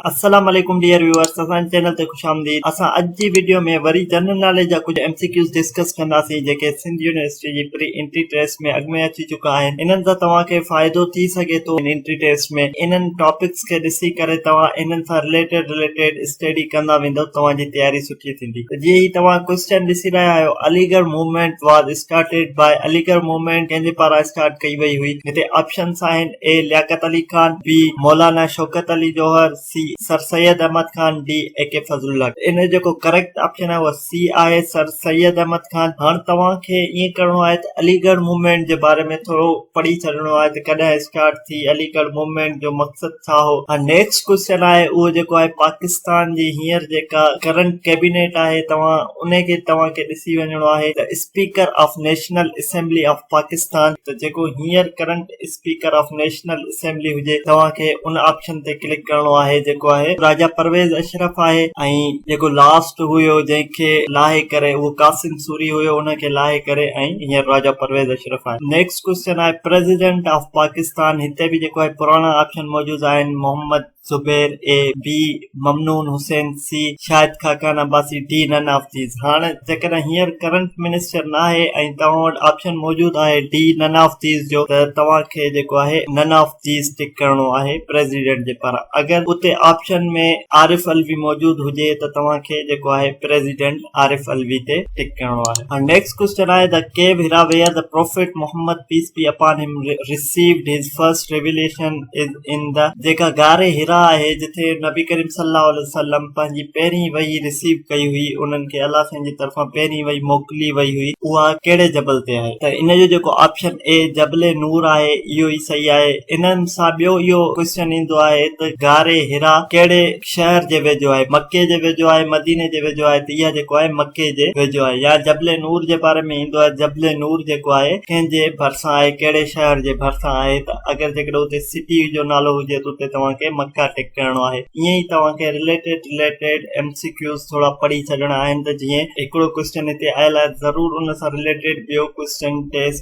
السلام عليڪم dear viewers اسان جي چينل تي خوش آمديد اسان اڄ جي وڊيو ۾ وري جنرل ناليج جا ڪجهه ايم سي ڪيوز ڊسڪس ڪنداسين جيڪي سنڌ يونيورسٽي جي پري انٽري ٽيسٽ ۾ اڳ ۾ اچي چڪا آهن انهن سان توهان کي فائدو ٿي سگهي ٿو ان انٽري ٽيسٽ ۾ انهن ٽاپڪس کي ڏسي ڪري توهان انهن سان رليٽيڊ رليٽيڊ اسٽيڊي ڪندا ويندو توهان جي تياري سٺي ٿيندي جيئن ئي توهان ڪوئسچن ڏسي رهيا آهيو Aligarh Movement was started by Aligarh movement ڪنهن جي پاران اسٽارٽ ڪئي وئي هئي هتي آپشنس آهن اي لياقت علي خان بي مولانا Shaukat Ali Jauhar C sir Syed Ahmed Khan D A K Fazal Ullah Khan ان جو جيڪو ڪريڪٽ آپشن آهي اهو سي آهي سر سيد احمد خان هاڻ توهان کي ائين ڪرڻو آهي ته عليڳڙهه موومينٽ جي باري ۾ ٿورو پڙهي ڇڏڻو آهي ته ڪڏهن اسٽارٽ ٿي عليڳڙهه موومينٽ جو مقصد ٿا هو ۽ نيڪسٽ ڪوئسچن آهي اهو جيڪو آهي پاڪستان جي هينئر جيڪا ڪرنٽ ڪيبينيٽ آهي توهان ان کي توهان کي ڏسي وڃڻو آهي ته speaker of national assembly of Pakistan ته جيڪو هينئر current speaker of national assembly هجي توهان کي ان آپشن تي ڪلڪ ڪرڻو آهي جيڪو آهي راجا پرويز اشرف آهي ۽ جيڪو لاسٽ هيو جنهن کي لاهي ڪري اهو قاسم سوري هيو ان کي لاهي ڪري ۽ هينئر راجا پرويز اشرف آهي نيڪسٽ ڪوشچن آهي پريزيڊنٽ آف پاڪستان هتي به جيڪو آهي پراڻا آپشن موجود آهن Muhammad Zubair A B Mamnoon Hussain C Shahid Khaqan Abbasi D none of these هاڻ جيڪڏهن هينئر ڪرنٽ منسٽر نه آهي ۽ توهان وٽ آپشن موجود آهي ڊي نن آف ديز جو ته توهان کي جيڪو آهي نن آف ديز ٽڪ ڪرڻو آهي پريزيڊنٽ جي پاران اگر اتي آپشن ۾ عارف علوي موجود هجي ته توهان کي جيڪو آهي پريزيڊنٽ عارف علوي تي ٽڪ ڪرڻو آهي هاڻ نيڪسٽ This question آهي ته ڪيو هيرا ويئر ته prophet Muhammad peace be upon him received his first revelation is in ته جيڪا غار هيرا آهي جتي نبي ڪريم صلي الله عليه وسلم پنهنجي پهرين وحي ريسيو ڪئي هئي انهن کي الله سائين جي طرفان پهرين وحي موڪلي وئي هئي اها ڪهڙي جبل تي آهي ته ان جو جيڪو آپشن اي جبل نور آهي اهو ئي صحيح آهي انهن سان ٻيو اهو ڪويسچن ايندو آهي ته غار هيرا ڪهڙي شهر جي ويجهو آهي، مڪي جي ويجهو آهي، مديني جي ويجهو آهي ته اها جيڪو آهي مڪي جي ويجهو آهي يا جبل نور جي باري ۾ ايندو آهي جبل نور جيڪو آهي ڪنهن جي ڀرسان آهي ڪهڙي شهر جي ڀرسان آهي ته اگر جيڪڏهن اتي سٽي جو نالو هجي ته اتي توهان کي مڪه ٽڪ ڪرڻو آهي ائين ئي توهان کي related related M C Qs ٿورا پڙهي ڇڏڻا آهن ته جيئن هڪڙو ڪوئسچن هتي آيل آهي ته ضرور ان سان رليٽيڊ ٻيو ڪوئسچن ٽيسٽ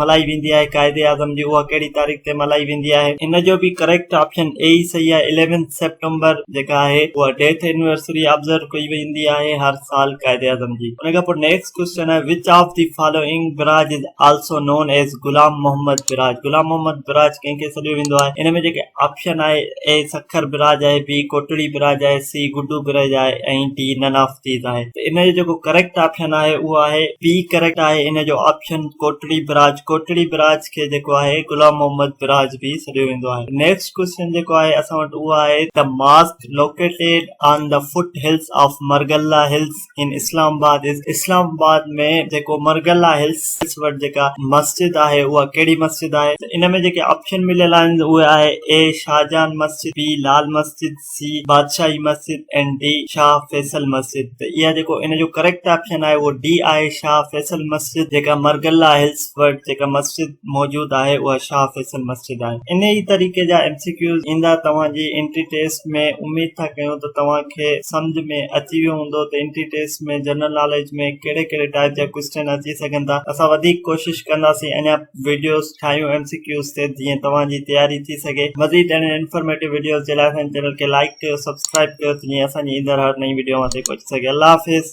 ملهائي ويندي آهي قائد اعظم جي اها ڪهڙي تاريخ تي ملهائي ويندي آهي ان جو به ڪريڪٽ آپشن اي ئي صحيح آهي اليونٿ سيپٽمبر جيڪا آهي اها ڊيٿ اينورسري آبزرو ڪئي ويندي آهي هر سال قائد اعظم جي ان کان پوء نيڪسٽ ڪويسچن آهي which of the following barrage is also known as Ghulam Muhammad barrage Ghulam Muhammad barrage ڪنهن کي سڏيو ويندو آهي ان ۾ جيڪي آپشن آهي اي سکر براج آهي بي ڪوٽڙي براج آهي سي گڊو برج آهي ۽ ڊي نن آف چيز آهي ته ان جو جيڪو ڪريڪٽ آپشن آهي اهو آهي بي ڪريڪٽ آهي ان جو option Kotri barrage Kotri barrage کي جيڪو آهي غلام محمد براج به سڏيو ويندو آهي نيڪسٽ ڪويسچن جيڪو آهي اسان وٽ اهو آهي ته mosque located on the foot hills of Margalla hills in Islamabad از اسلام آباد ۾ جيڪو مرغلا هلز وٽ جيڪا مسجد آهي اها ڪهڙي مسجد آهي ته ان ۾ جيڪي آپشن مليل آهن اهي آهي اي شاهجهان مسجد بي لال مسجد سي بادشاهي مسجد ۽ ڊي شاهه فيصل مسجد ته اها جيڪو ان جو ڪريڪٽ آپشن آهي اهو ڊي آهي شاهه فيصل مسجد جيڪا مرگلا هلز وٽ جيڪا مسجد موجود آهي اها شاهه فيصل مسجد آهي انهي طريقي جا ايم سي ڪيوز ايندا توهان جي انٽري ٽيسٽ ۾ اميد ٿا ڪيون ته توهان کي سمجهه ۾ اچي ويو هوندو ته انٽري ٽيسٽ ۾ جنرل ناليج ۾ ڪهڙي ڪهڙي ٽائيپ جا ڪوسٽين اچي سگهن ٿا اسان وڌيڪ ڪوشش ڪنداسين اڃا وڊيوز ٺاهيون ايم سي ڪيوز تي جيئن توهان جي تياري ٿي سگهي مزيد اهڙين انفارميٽو وڊيوز جي لاء اسان جي چينل کي لائيڪ ڪيو سبسڪرائيب ڪيو ته جيئن اسان جي ايندڙ هر نئين وڊيو اوهان تائين پهچي سگهي الله حافظ